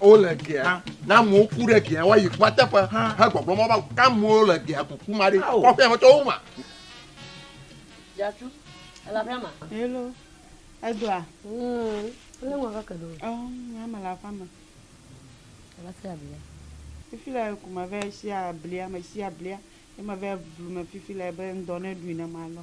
wole gea ne amewo ku ɖe gea woayi kua teƒe hegbɔgblɔ mɔ va ke amewo le gea kuku ma ɖi kɔƒe me tɔwo ma. Dzatu, ele aƒea ma. Hello, edɔa. Ele ŋua kake ɖo. Ɔ, nya me le aƒea me. Ela se ablia. Fifi le ku me vɛ si ablia me si ablia. Ema vɛ blu me fifi le be ŋdɔ ne ɖui ne ma lɔ.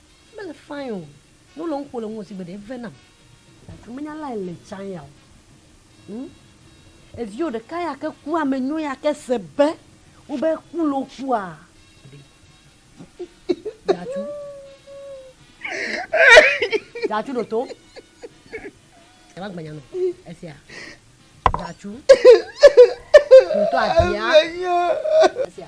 Mele fine o. Ne wole nu ƒo le ŋuwò sigbe ɖe eve nam. Like menya lay le tsa ya o. Hm. Eviwo ɖeka ya ke ku ame nyɔ ya ke se be wobe ku le wokua. Datu. Datu ɖo to. Eva gbanya no. Esia. Datu. Ɖo to abia. Esia.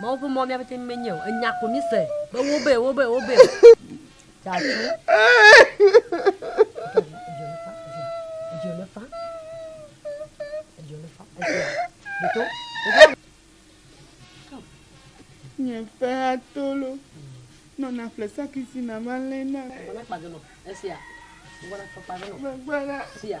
Mawu ƒe mɔ mía pete menye o. Enya ko mi se be wobe wobe wobe dzatu. Edzo le fa. Edzo le fa. Edzo le fa. Nye fe atolo. Nɔ na fle sakisi na ma lé na. Gbana kpa dono. Esia. Gbana kpa dono. Gbana. Sia.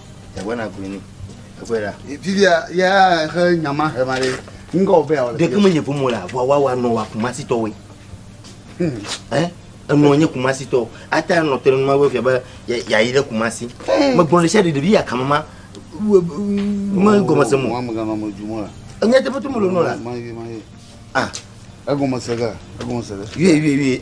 Yàgbé na gbe ni. Yàgbé ɖa. Fi bia yà xe nyama xe ma ɖe. Ŋgɔ wo bɛ awɔ le. Ɖeke me nye ƒomɔ la vɔ wa wa nɔ wa kumasi tɔ we. Ɛ enɔ nye kumasi tɔ. Ata enɔ tɛ numa wo fia bɛ ya ya yi ɖe kumasi. Me gbɔn le sia ɖe ɖevi ya kama ma. Me gɔme se mo. Mo ame gama mo ju mo la. Enye tɛ fɛ tu mo lo nɔ la. Ma ye ma ye. Ah. Egɔme se ga. Egɔme se ga. Yue yue yue.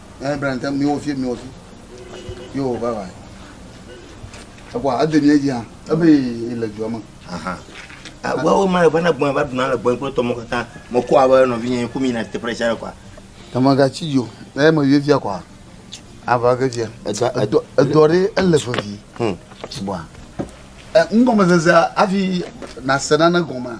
Ɛ bla ŋtɛ mi wofi mi wofi. Yo bye bye. Ekwa ade mi edzi hã. Ebe le dua me. Aha. Awo ma va na gbɔn va duna le gbɔn kple tɔmɔ katã. Mo ko abe no vinye ko mi na te pressure le kwa. Tama ga chi yo. Ɛ me vivia kwa. Ava ke via. Edo edo re ele favi. Hm. Bwa. Ɛ ngɔmezeze afi na senana gɔma.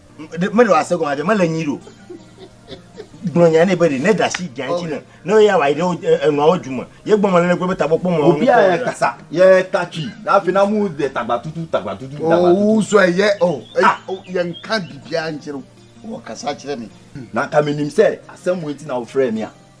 meɖo ase gɔme aɖe mele nyi ɖo gblɔ nya ne be ɖe ne ɖasi gã ŋuti ne ne ye awa yi ɖe enuawo du me ye gbɔ me lele kple be tabɔ kpɔ mɔ obi a kasa ye ta tui na fi na mu de tagba tutu tagba tutu oh, tagba tutu o zɔ ye o oh, eh, ah. oh, ye nka bibia ntsero o kasa tsere mi na kaminim se asemu eti na ofre mia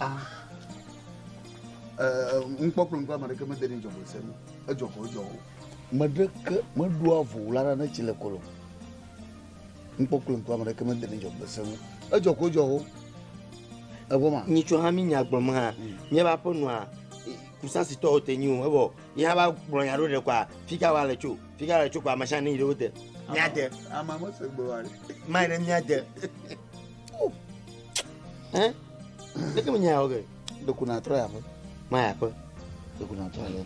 Ah. Eh, nukpɔkplɔ ŋkɔ ame ɖeke mede ne dzɔgbɔ se me edzɔ ko edzɔ o me ɖeke meɖoa vo la ɖa ne tsi le kɔlɔ nukpɔkplɔ ŋkɔ ame ɖeke mede ne dzɔgbɔ se me edzɔ ko edzɔ o evɔ ma. nyitsɔ hã mi nya gblɔ me hã nye ba ƒe nua kusasi tɔ wote nyi o ebɔ ye hã ba gblɔ nya ɖo ɖe kɔa fika wa le tso fika le tso kɔa machine yi ɖe wote. mia de. ama mese gblɔ wa. mai ɖe mia de. Eh? Ne ke menyae oge. Do kuna trɔ ya ƒe. Ma ya ƒe. Do kuna trɔ ya.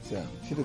Sia. Si do.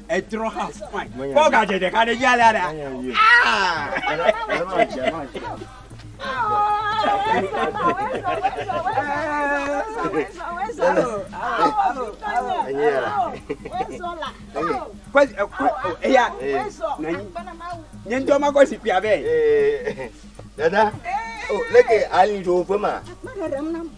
Etrɔ ha fai. Kɔ gadzɛ ɖeka ɖe dzi alea ɖa. Eya nye ŋutɔ ma kɔ zikpui avɛ. Dada, leke ali ɖo ƒe ma?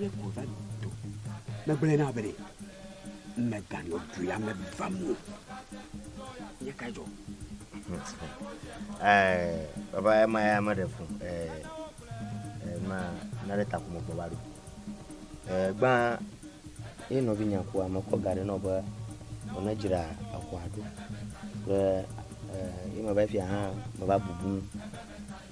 Le kɔva do. Megblẽ na be meganɔ dua me vam o. Nye ka dzɔ? Eh, baba ema ya me ɖe fo. Eh, eh, ma na ɖe ta kuma kɔva do. Eh, gba ye nɔvi nya ko ame kɔ ga ɖe nɔ be wòne dzra akɔ aɖo. Ke eh, ye me va fia hã me va bubu.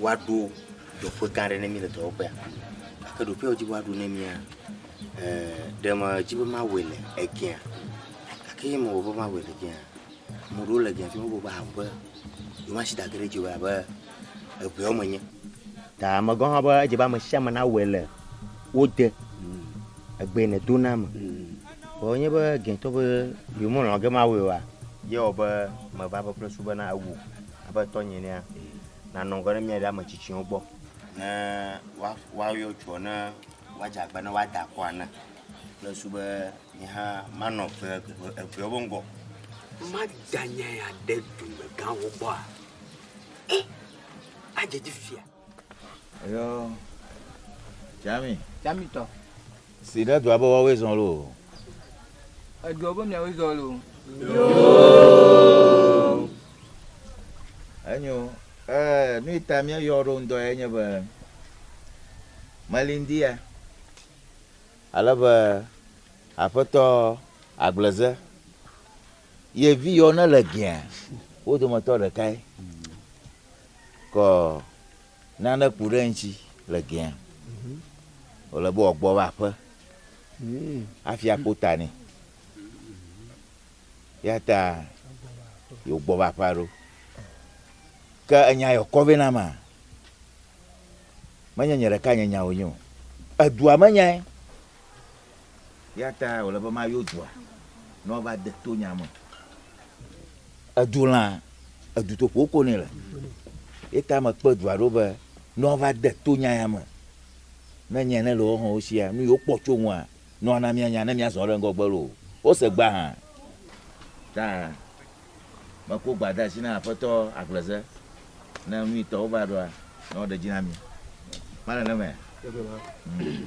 woaɖo dɔƒe gã aɖe na mí le dɔwɔƒea. Gake ɖoƒe ya wodzi be woaɖo na mía, ɖe medzi be mawɔe le egea? Gake eye mewɔ be mawɔe le egea, ame aɖewo le egea tum be wobe awu be yewoatsi dage ɖe edzi o elabe eŋewo menye. Ta megblɔ na wo be edze be ame sia ame nawɔe le wo de egbe yi nedo na me. Vɔ wonye be egeatɔ be yewomelɔ̃ be mawɔe oa, ye wɔ be meva be kple su bena ewu. Aƒetɔ nyelia, nànɔ ŋgɔ ɖe mía ɖe ame tsitsiwo gbɔ. Ne woa, woayɔ tsoɔ, ne woadze agba ne woada akɔ ene. Kple su be nye hã manɔ eve, eve, eveawo be ŋgɔ. Maganyae aɖe dumegãwo gbɔa? E, adzedzi fia. Eyɔ Tsami. Tsami tɔ. Si ɖe dua be woawoe zɔ lo. Edua be miawoe zɔ lo. Yoo. Enyo. Ee, nu yi ta míeyɔ ɖo ŋdɔ ye nye be melindia. Ale be aƒetɔ agbleze ye vi yɔ ne le gea wo dometɔ ɖekae. kɔ nane ku ɖe eŋuti le gea, wòle be wòagbɔ va aƒe hafi akpo ta nɛ. Ya ta yewogbɔ va aƒea ɖo. Ke enya yɔ kɔ vɛ na ma. Menye nye ɖeka nye nya wònyo. Edua me nyae. Eya ta wòle be mayɔ dua, ne woava de to nya me. Edu lã, edu to ƒo ko nɛ le. Eya ta mekpe dua ɖo be ne woava de to nya ya me, ne nya ne le woawo hã wo sia, nu yi wokpɔ tso ŋua, ne woana míanya, ne míazɔ ɖe ŋgɔgbe loo, wose gbe hã. Ta meko gba de asi na Aƒetɔ Agbleze, ne nu yi tɔ wova ɖoa, ne woɖe dzi na mí. Male nemea? Ŋ.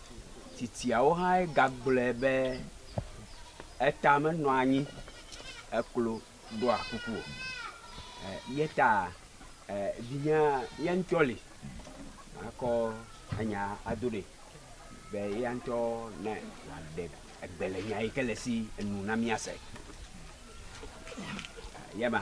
Tsitsiawo hã gagblɔe be, Eta menɔa anyi eklo ɖɔa kuku o. Eya ta vinye ye ŋutɔ li makɔ enya ado ɖee be eya ŋutɔ ne wòaɖe gbe le nya yi ke le esi nu na míase. Eye ma.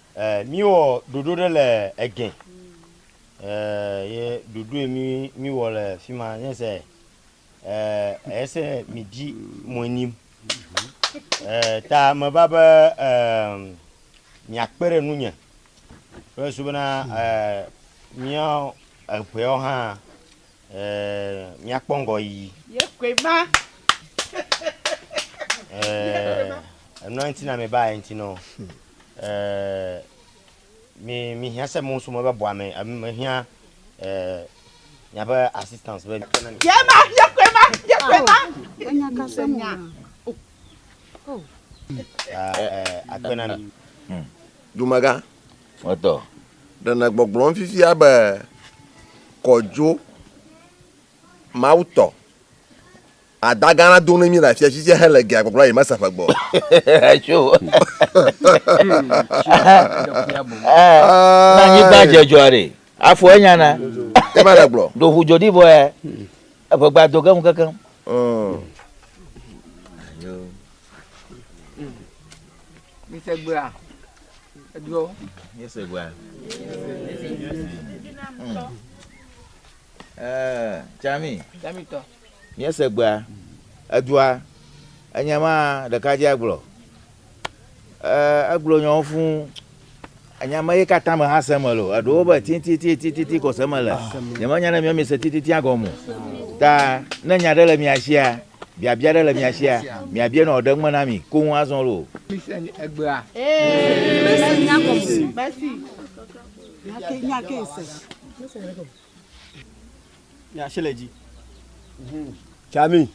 E mi wɔ ɖoɖo ɖe le egɛ e ye ɖoɖo e mi mi wɔ le fima nye se e ese mi di mo e nim e ta me va be e mi akpe ɖe nu nye kple su bena e mi eƒewo hã. Ɛɛ, míakpɔ ŋgɔyiyi. Yekɔe ma. Ɛɛ, enua ŋuti na mi ba ye ŋuti nɔ. Ɛɛ, mi mi hiã se mɔ sumɔ be bɔa me, ame me hiã ɛɛ miabe assistance be. Ye ma, yekɔe ma, yekɔe ma. Enya ka se nya. Ɛɛ, akpe na mi. Dumegã, Etɔ. Ɖe nègbɔgblɔm fifia be, Kɔ dzo, Mawu tɔ, ada gã la do na mí le afia tsitsia hele gea gbɔgblɔ yi mese ƒe gbɔ. Tso. Na anyigba dze dzoa ɖe. Afɔ enya na. Ema le gblɔ. Do ƒu dzo ɖi vɔ ya. Eƒe gba do keŋ kekeŋ. Mise gbea. Jami, míese gbea, edua, enye ma ɖeka dzi agblɔ. Egblɔ nyawo fũ, enya me ye katã me hã se me lo. Eɖewo be titititititi ko se me le. Nyemenya ne mia mi se tititia gɔme o. Ta ne nya ɖe le mia sia, Biabia aɖe le mia sia? Miabia nɔ ɖe ŋme na mi koŋ azɔ loo. Tsami.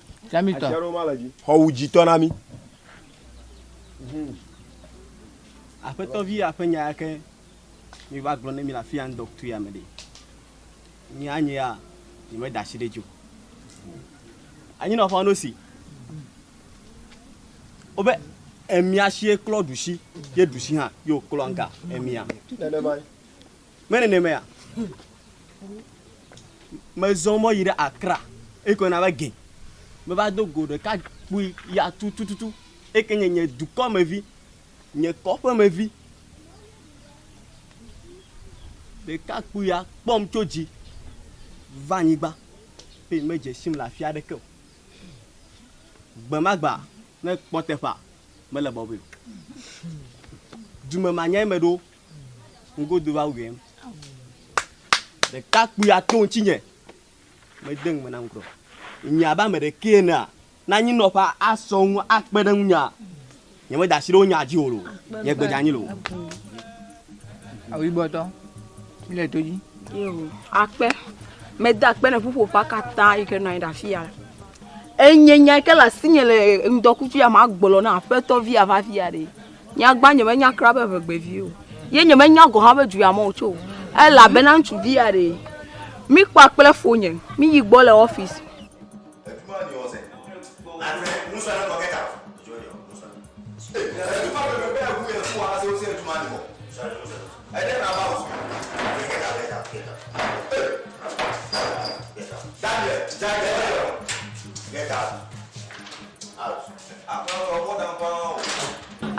Xɔwu dzitɔ na mi. Aƒetɔvia ƒe nya yake. miva gblɔ ne mi le afi ya ŋdɔkutue ame ɖe nye anye ya nye me da asi ɖe dzo anyi na ƒa no si o be emia si klɔ ɖusi ye ɖusi hã ye o klɔ nga emia me nene me ya me zɔ mɔ yi ɖe akra ekɔ na be gɛ me va do go ɖeka kpui ya tutututu eke nye nye dukɔ me vi nye kɔƒemevi ɖekakpuia kpɔm tso dzi va anyigba eye medze sim le afi aɖeke o. Gbe ma gbe ne kpɔ teƒea, mele bɔbɔe o. Dume ma nyae meɖo ŋgodo va wuiɛm. Ɖekakpuia to ŋutinye. Mede ŋugbe na ŋutrɔ. Nye abe ame ɖekee enea, ne anyinɔƒea asɔ ŋu akpe ɖe ŋunyea, nyemeda asi ɖe wo nyaa dzi o loo, nye gbe dze anyi loo. Awu yibɔtɔ, mi le to dzi. Yo, akpe. Mede akpe ne ƒuƒoƒea katã yi ke nɔ anyi ɖe afi ya. Enye nya yi ke le asinye le ŋdɔkutsu ya me agblɔ na Aƒetɔ via va afi ya ɖe. Nyagbã nyemenya kura be ŋegbevi o. Ye nyemenya gɔ̃ hã be du ya me wòtso o. Elabena ŋutsuvi ya ɖee. Mikpɔa kple fonye. Miyi gbɔ le ɔfisi.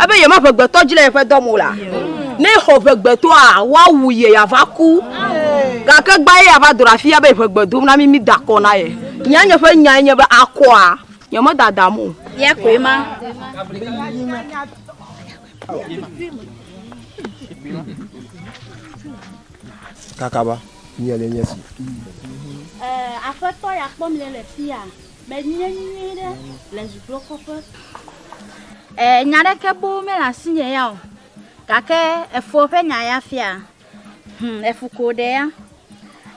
Ebe ye ma ƒe gbetɔ dzi le yeƒe dɔ mo la, ne xɔ ƒe gbetɔa, woawu ye ya va ku. Gake gbã ye ya va dro afia be ƒe gbe dom na mi mi da kɔ na ye. Nya nye ƒe nyae nye be akɔa, nye me dadam o. Ye koe ma. Kakaba, nye le nye si. Ɛɛ, Aƒetɔ ya kpɔ mle le fia. Menye nyui ɖe le zudokɔƒe. E, nya ɖeke boo mele asinye ya o. Gake efo ƒe nya ya fia. Hm, efu ko ɖe ya.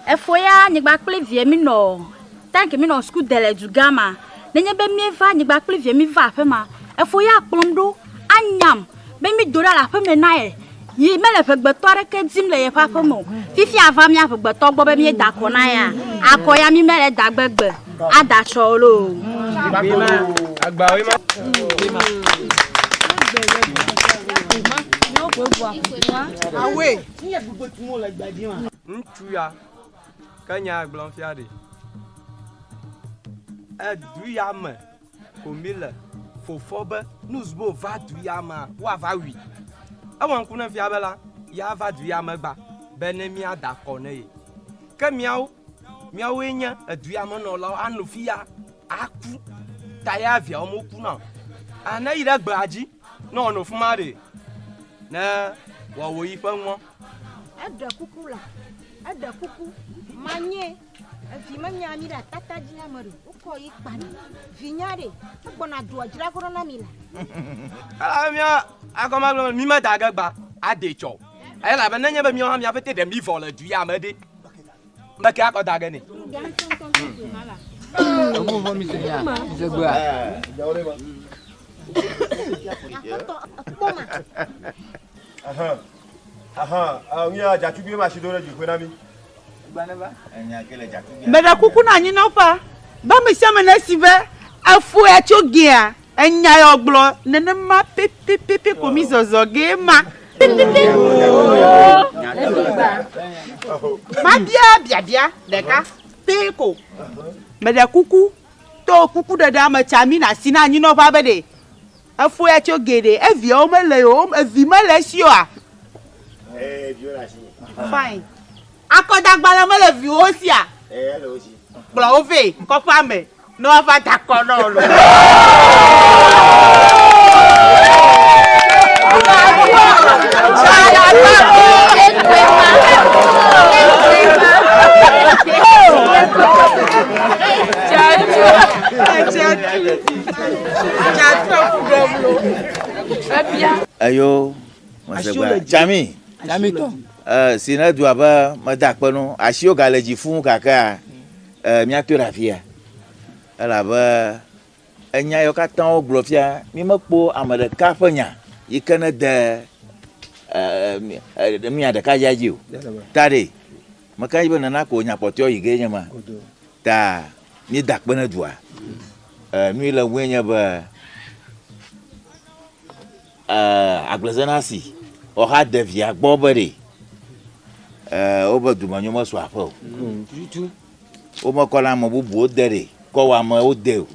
Efo ya nyigba kple vie mi nɔ, tank mi nɔ suku de le dugã ma. Nenye be mi va nyigba kple vie mi va aƒe ma, efo ya kplɔm ɖo anyam. be mído ɖa le aƒeme na ye yi mele ʋegbetɔ aɖeke dim le yeƒe aƒeme o. Fifia ava mía ʋegbetɔ gbɔ be míeda akɔ na yea, akɔ ya mí mele da gbegbe ada tsɔ o loo. Ŋutsu ya ke nya gblɔm fia ɖi. Edu ya me. Ko mi le fofɔ be nu zbo va du ya ma wa va wi. Ewa ŋku ne fia be la ya va du ya me gba be ne mia da kɔ ne ye. Ke miawo, miawo ye nye edu ya me nɔ lawo a no fi ya a ku ta ya viawo mo ku na o. A ne yi ɖe gbea dzi ne wɔ no fuma ɖe ne wɔ wo yi ƒe ŋɔ. Eɖe kuku la, eɖe kuku ma nye. Evi menya mi ɖe atata dzi na me ɖo. Wokɔ yi kpa mi. Vi nya ɖe. Egbɔna doa dzra koro na mi la. Ela mia akɔma gblɔ mi me da ge gba ade tsɔ. Ela be nenye be mia mia fete ɖe mi vɔ le du ya me ɖe. Me ke akɔ da ge ne. Ebu vɔ mi se ya. Se gba. Akɔtɔ ekpɔ ma. Meɖe kuku na anyinɔƒea be amesiame nesi be efɔe tso gea enya ya wògblɔ nenema pɛpɛpɛpɛ ko mi zɔzɔ gee ma. Mabia biabia ɖeka pɛ ko. Meɖe kuku to kukuɖeɖea me tsa mi na si na anyinɔƒea be ɖe. Efo ya tso geɖe. Eviawo mele o. Evi mele esi oa? Ee, viwo le asinye. Fine. Akɔdagbalẽ mele viwo sia? Ee, ele wo si. Kplɔ wo vɛ kɔƒea me ne woava da akɔ na wò loo. Eyo mesegbe tsami tsamitɔ si ne dua be mede akpe nu asiwo gale dzi fuu gakea míatɔe ɖe afia elabe enya yewo katã wogblɔ fia mi mekpɔ ame ɖeka ƒe nya yi ke ne de mia ɖeka ya dzi o ta ɖe meka dzi be nana ko nya kpɔtɔe yi ge nye ma. Ta mí da kpe ne dua. E, nu yi le ŋue nye be e, agblezenasi si ɔha devia gbɔ be ɖe e, woƒe dumenyo mesu aƒe o. Womekɔna ame bubuwo de ɖe kɔwɔ amewo de o.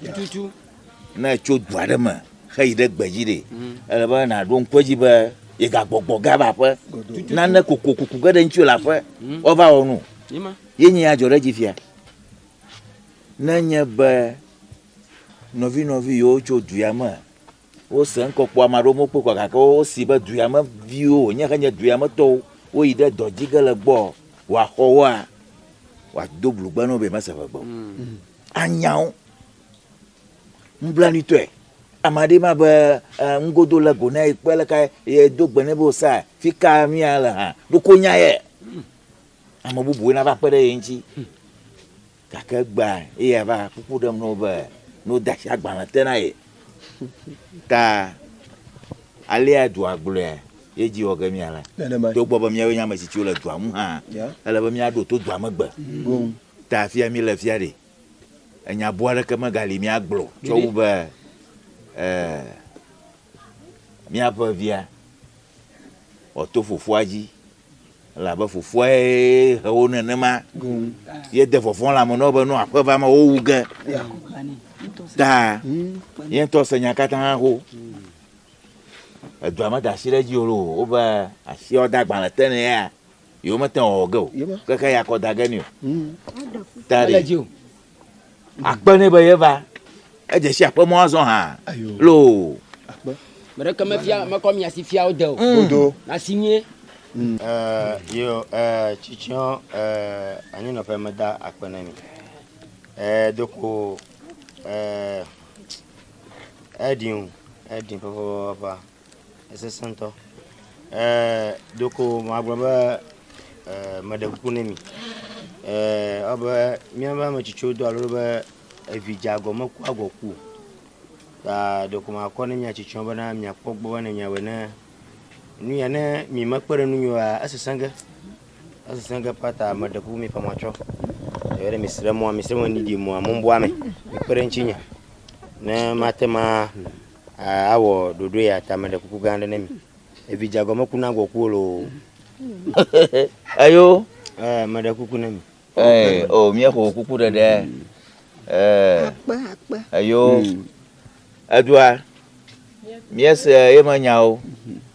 Ne etso du aɖe me heyi ɖe gbedzi ɖe ele be nàɖo ŋku edzi be yegagbɔgbɔ ge ava aƒe. Nane kokokuku ge ɖe ŋuti le aƒe woava wɔ nu. Yenyee adzɔɖedzifia. Ne nye be nɔvinɔvi yiwo tso duya me wose ŋkɔkpɔ ame aɖewo mokpɔe kɔ gake wosi be duya me viwo wonye xe nye duya me tɔwo woyi ɖe dɔ dzi ge le gbɔ wòaxɔ woa wòado blugbe na wo be mese ʋegbe o. Mm. Anya wo nublanuitɔe. Ame aɖee ma be ŋgodo le go na ye kpe le ka ye do gbe ne be osa fi ka mia le hã ɖoko nya ye. Ame bubuwo nava kpe ɖe ye ŋuti, gake egbea eya va kpukpu ɖem na wo be ne wode asi agbalẽ te na ye ta alea dua gblɔe ye dzi wɔ ge mía la. Togbɔ be míawoe nye ame tsitsiwo le dua ŋu hã, ele be míaɖo to dua megbe ta afia míle fia ɖi. Enya boo aɖeke megali míagblɔ o tsɔ wu be míaƒe via wòato fofoa dzi. Elabe fofoae he wo nenema. Yede vɔvɔ̃ lãme na wo be ne aƒe va me wowu ge. Ta ye ŋutɔ se nya katã ho. Edua meda asi ɖe edzi o loo. Wobe asiawo de agbalẽ te ne ya. Yewomete ŋu awɔ ge o. Keke ya kɔ da ge nɛ o. Ta ɖi. Akpe nɛ be yeva. Edze si aƒe mɔ azɔ hã loo. Akpe. Me ɖeke mefia mekɔ mia si fia wo de o. Bodo. Na si nyuie. Eh, yo, eh, tsitsyɔ, eh, anyinɔƒe meda akpe ne mi. Eh, doko, eh, eɖin, eɖin ƒeƒeƒeƒea. Esesẽ ŋutɔ. Ɖeko magblɔ be meɖe kuku ne mi. Ewɔ abe míaƒe ame tsitsiwo dɔa ɖoɖo be evi dze agɔ mekua agɔ ku o. Ta ɖeko makɔ ne mia tsitsiwo bena miakpɔ gbɔ be ne miawɔe ne nu ya ne mi mekpe ɖe nu mi oa esesẽ ge. Esesẽ ge paa ta meɖe kuku mi ƒe matsɔ. Eye ne misrẽ mɔa, misrẽ mɔ ne miɖi mɔa mɔbua me. Mikpe ɖe eŋutsi nye ne mate ma Awɔ ɖoɖo ya ta me ɖe kuku gã aɖe ne mi. Evi dza gɔme kuna gbɔ kuwo lo. Eyo. Ɛɛ me ɖe kuku ne mi. Ɛɛ o oh, mie xo kuku ɖe ɖe. Ɛɛ. Akpe akpe. Eyo. Edua. Mie se ye me nyawo.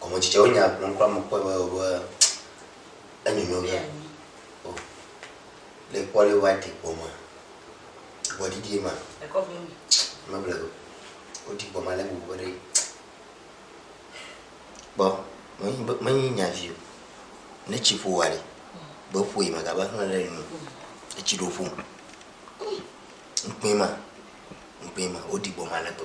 Gɔme dzidze wo nya gblɔm kura me kpɔe be be enyonyo ɖe. O. Le kpɔ le wa di gbɔma. Gbɔ didi ma. E kɔ vɛ mi. Me ble go. O di gbɔma le bu bere. Gbɔ. Me nyi me nyi nya vi o. Ne tsi ƒo wa le. Be ƒo yi ma ga ba hle le nu. Etsi ɖo ƒo. Nkpe ma. Nkpe ma o di gbɔma le gbɔ.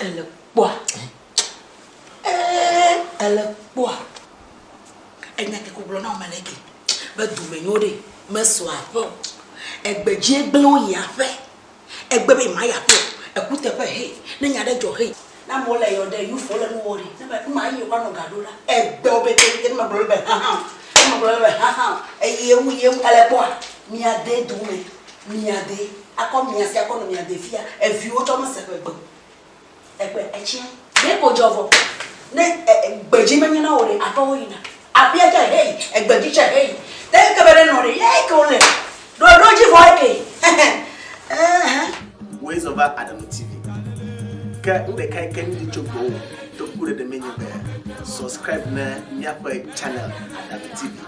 Ele kpɔa. Ee, ele kpɔa. Enya ke kugblɔ na ɔmele ke. Be dume nyo ɖe, mesɔ aƒe o. Egbe dzie gblẽ wo yi aƒe. Egbe be ma yi aƒe o. Ekuteƒe hee. Ne nya ɖe dzɔ hee. Na mo le yɔ ɖe, you fɔ le nu wɔ ɖe. Ne me, ma yi wa nɔ ga ɖo la. Egbe wo be ke ke ne me gblɔ be ha ha o. Ne me gblɔ be ha ha o. Eye wu ye wu ele kpɔa. Mia de dume. Mia de. Akɔ mia si akɔ nɔ mia de fia eviwo tsɔ me se ƒe gbe egbe etsiɛ. Ɖe ko dzɔ vɔ ne e e gbe dzi menye na wò ɖe atɔwo yina aƒea tsɛ heyi egbe dzi tsɛ heyi te eke be ɖe nɔ ɖe ya eke wole ɖoɖo dzi vɔ eke hehe eehn. Woe zɔ va Adamu TV ke nu ɖeka yi ke mi li tso gbɔwò to ku ɖe ɖe menye be subscribe ne miaƒe channel Adamu TV.